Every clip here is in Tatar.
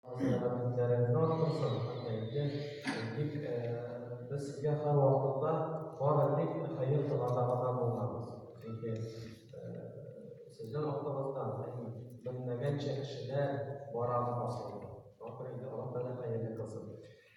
Сәламәтләрегез артсын, әйе, тик без сезгә һәрвакытта бары тик хәер теләргә гына булганбыз. Чөнки сезнең артыгыздан белмәгәнчә кешеләр бара башлый. Ахырында Аллаһ Тәгалә хәерле кылсын.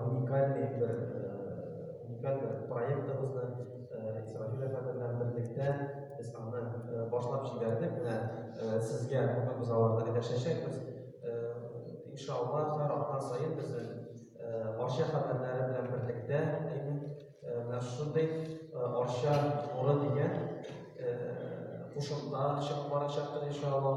уникальный бер уникаль бер проектыбызны Исрафил әфәнде белән берлектә без аны башлап җибәрдек. Менә сезгә бүген без аларны өләшәчәкбез. Иншалла, һәр атна саен безнең Арча хәбәрләре белән берлектә менә шундый Арча нуры дигән кушымта чыгып барачактыр иншалла.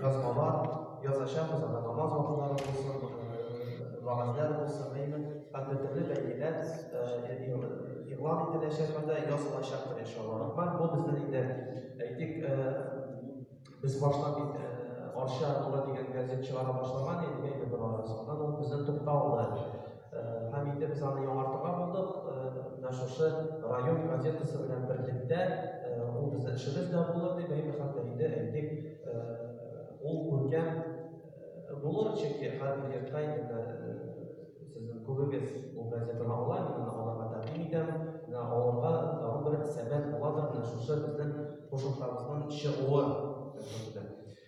Язмалар язачакбыз, анда намаз вакытлары булсын, вәгазьләр булсын, әйме, компьютерлы бәйгеләр игълан ителәчәк, анда язылачак бер иншалла. Бар, бу безнең инде әйтик, без башлап бит Арча туры дигән газет чыгара башлаган идек, әйме, бер арасы. Аннан ул безнең тукталды. Һәм инде без аны яңартырга булдык. Менә шушы район газетасы белән берлектә ул безнең эшебез дә булыр дип әйтә, хәтта инде әйтик, ул күркәм булыр, чөнки хәзер йортка инде сезнең күбегез ул газетаны ала, мин аны алырга тәкъдим итәм. Менә алырга тагын бер сәбәп буладыр, менә шушы безнең кушымтабызның чыгуы.